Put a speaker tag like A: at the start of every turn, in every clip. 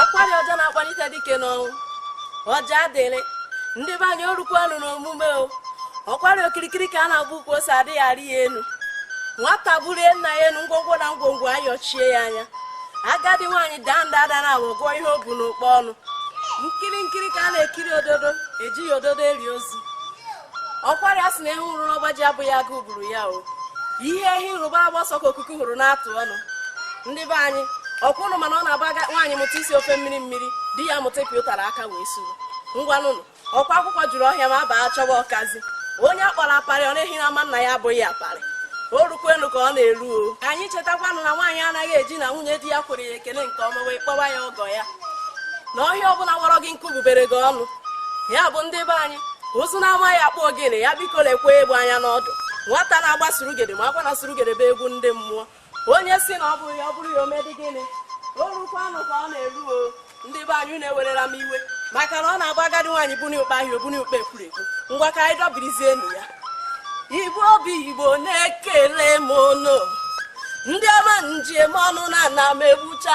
A: ọkwarị ọja na-akpalite dike n'ọnwụ ọja adịrị ndị be anyị orukwanụ n'omume o ọkwarị okirikiri ka a na-agba ukwu ose adịghị arị ya elu nwata bulie nna ya elu ngwongwo na ngwongwo ayọchie ya anya agadi nwaanyị daa nda ada naabọ agụọ ihe o bu n'ụkpa ọnụ nkiri nkiri ka a na-ekiri ododo ejighị ododo eli ozu ọkwarị a sị na ewu nwụrụ n'ọba ji abụghị agụụ gburu ya o ihe ehi hụrụ gbalaba ọsọ ka ọkụkụ hụrụ na-atụ ọnụ ndị be anyị ọkwa ụnụ ma na ọ na-abụ nwaanyị mụta isi ofe mmiri mmiri di ya amụta ịpị ụtara aka wee suru ngwanụnụ ọkwa akwụkwọ juru ọhịa ma abaa chọba ọkazi onye akpọrọ aparị ọ na-ehi n'ama nna ya abụghị aparị o rukwenu ka ọ na-eru o ka anyị chetakwanụ na nwaanyị anaghị eji na nwunye di ya kwere ya ekele nke ọma wee kpọba ya ọgọ ya na ọhịa ọbụla wọrọ gị nkụ bubere gị ọnụ ya bụ ndị be anyị ụzụ na-amaghị akpụ ogene ya biko lekwa egbe anya n'ọdụ nwata na-agba surugede makwa na surugede bụ egwu ndị mmụọ onye si na ọ bụrụ ya ọ bụrụ ya o medị gịnị orukwanụ ka ọ na-eru o ndị be anyị ụnụ ewerela m iwe maka na ọ na-abụ agadi nwaanyị buni ụkpa ahịa o buni ụkpa ekwurekwu ngwa ka anyị dọbirizie enyi ya igbo bụ igbo na-ekele m ụnụ ndị ọma m ji eme ọnụ na ana m egbucha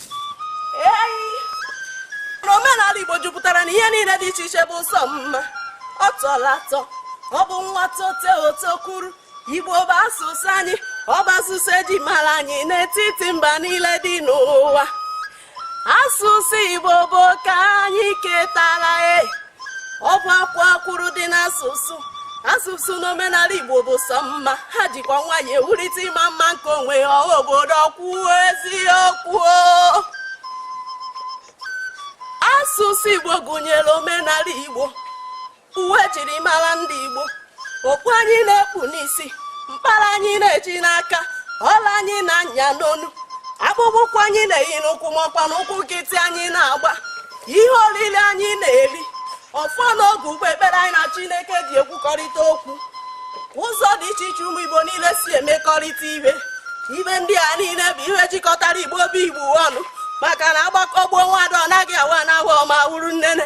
A: n'omenala Igbo jupụtara na ihe niile dị iche iche bụ sọ mma ọ tọla atọ ọ bụ nwa tote o tokuru Igbo bụ asụsụ anyị ọ bụ asụsụ eji mara anyị n'etiti mba niile dị n'ụwa asụsụ Igbo bụ oke anyị ketara e ọ bụ akwaa akwụrụ dị n'asụsụ asụsụ na omenala igbo bụ sọ mma ha jikwa nwayọ ewulite ịma mma nke onwe ha ọha obodo kwuo eziokwu asụsụ igbo gụnyere omenala igbo uwe ejiri mara ndị igbo okpu anyị na-ekpu n'isi mkpara anyị na-eji n'aka ọla anyị na-anya n'onu akpụkpọ ụkwụ anyị na-eyi n'ụkwụ makwanụ ụkwụ nkịtị anyị na-agba ihe oriri anyị na-eri ọfọ na ogu ụgbọ ekpere anyị na chineke ji ekwukọrịta okwu ụzọ dị iche iche ụmụ igbo niile si emekọrịta ihe ihe ndị a niile bụ ihe jikọtara igbo bụ igbo ọnụ maka na agbakọọ gbuo nwadụ ọ naghị awa na awa ọma wuru nnene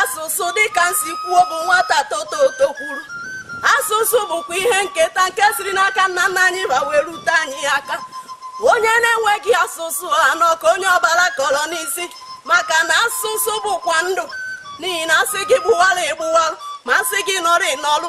A: asụsụ dịka m si kwuo bụ nwata tota o tokuru asụsụ bụkwa ihe nketa nke siri n'aka nna nna anyị ba wee rute anyị aka onye na-enweghị asụsụ anọ ka onye ọbara kọrọ n'isi maka na asụsụ bụkwa ndụ n'ihi na asị gị gbụwara ị gbụwara ma asị gị nọrọ ị nọrọ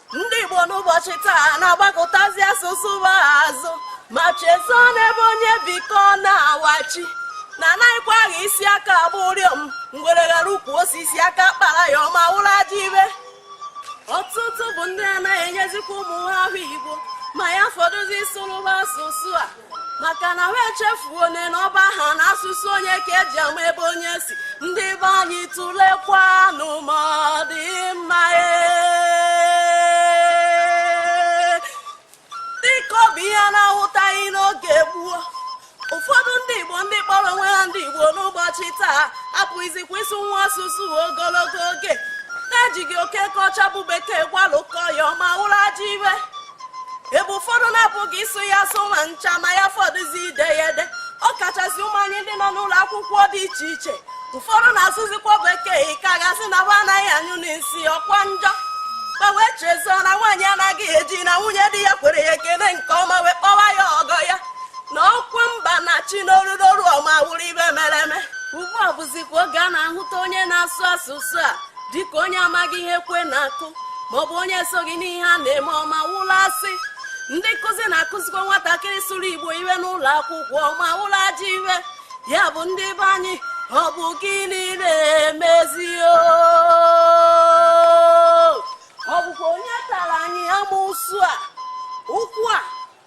A: ndị Igbo n'ụbọchị taa na-agbakụtazi asụsụ ha azụ ma chezọọ na ebe onye bi ka ọ na-awachi na anaghịkwa agha isi aka agba ụrịọm ngwere ghara ukwu osisi aka akpara ya ọma wụrụ aja ibe ọtụtụ bụ ndị anaghị enyezikwa ụmụ ha aha Igbo ma ya fọdụzi ịsụrụ ba asụsụ a maka na ha echefuo na na ọ bụ aha na asụsụ onye ka eji ama ebe onye si ndị be anyị tụlekwanụ ma ọ dị mma ee. dịka ọ bụ ihe a na-ahụtaghị n'oge gboo ụfọdụ ndị igbo ndị kpọrọ onwe ha ndị igbo n'ụbọchị taa apụghịzikwa ịsụ nwa asụsụ ogologo oge na-ejighị oke kọcha bụ bekee gwalụkọ ya ọma wụrụ ajọ ihe ebe ụfọdụ na-apụghị ịsụ ya asụ ma ncha ma ya fọdụzi ide ya ede ọ kachasị ụmụ anyị ndị nọ n'ụlọ akwụkwọ dị iche iche ụfọdụ na-asụzikwa bekee ka a ga-asị na ha anaghị anyụ nsị ọkwa njọ ma wee chezọọ na nwaanyị anaghị eji na nwunye di ya kwere ya ekele nke ọma wee kpọwa ya ọgọ ya na ọkwa mba na-achị n'olu n'olu ọma wụrụ ihe mere eme ugbu a bụzikwa oge a na-ahụta onye na-asụ asụsụ a dịka onye amaghị ihe kwe na-akụ maọbụ onye esoghị n'ihe a na-eme ọma wụla asị ndị nkụzi na-akụzikwa nwatakịrị sụrụ igbo ihe n'ụlọ akwụkwọ ọma wụrụ ajọ ihe ya bụ ndị be anyị ọ bụ gịnị na-emezi ọ bụkwa onye tara anyị amusu a ụkwụ a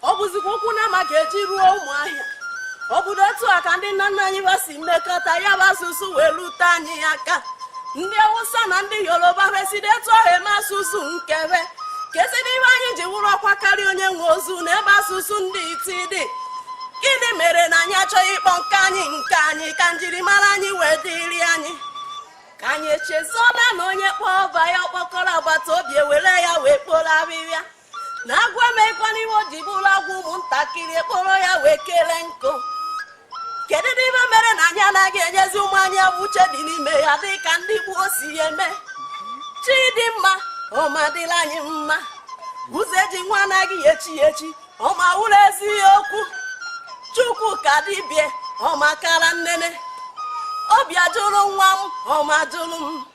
A: ọ bụzikwa ụkwụ nama ga-eji ruo ụmụahịa ọ bụrụ etu a ka ndị nna nna anyị ha si mekọta ya bụ asụsụ wee rute anyị aka ndị awụsa na ndị yoruba esiri etu ahụ eme asụsụ nke be kedịzi ihe anyị ji wụrụ ọkwa karịa onye nwe ozu na ebe asụsụ ndị iti dị gịnị mere na anyị achọghị ịkpọ nke anyị nke anyị ka njirimara anyị wee dịrị anyị ka anyị echezola na onye kpọọ ọba ya ọkpọkọrọ agbata obi ewere ya wee kporo ahịhịa na agwọ emeghịkwa ihe o ji bụrụ agwọ ụmụntakịrị ekporo ya wee kere nkụ kedu ihe mere na anyị anaghị enyezi ụmụ anyị aha uche dị n'ime ya dị ka ndị gboo si ya eme chi dị mma ọma dịla anyị mma ụzọ eji nwa anaghị echi echi ọma wụrụ eziokwu chukwu ka dibịa ọma kara nnene obi ajụrụ nwa m ọma jụrụ m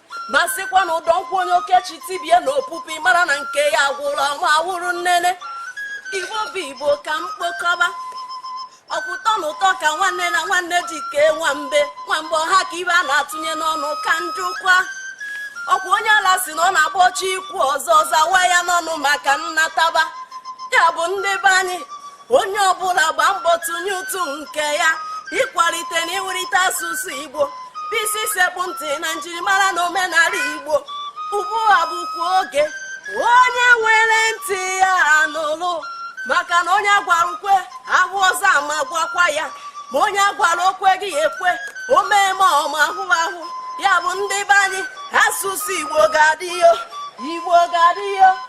A: ma sịkwa na ụdọ nkwụ onye okechi tibie na opupi mara na nke ya gwụla ọma wụrụ nnene igbo bụ igbo ka m kpokọba ọ bụ ụtọ na ụtọ ka nwanne na nwanne ji kee nwa mbe nwa mbe ọ ha ka ihe a na-atụnye n'ọnụ ka m jụkwa ọkwa onye ala si na ọ na-agba ọchị ikwu ọzọ zawa ya n'ọnụ maka nnataba ya bụ ndị be anyị onye ọbụla gbaa mbọ tụnye ụtụ nke ya ịkwalite na iwulite asụsụ igbo bụ isi sekpụ ntị na njirimara na omenala igbo ugbu a bụkwa oge onye nwere ntị ya anụlụ maka na onye a gwara o kwe a hụ ọzọ ama gwakwa ya ma onye a gwara o kweghị ekwe o mee ma ọma ahụ ahụ ya bụ ndị be anyị asụsụ igbo ga-adị o igbo ga-adị o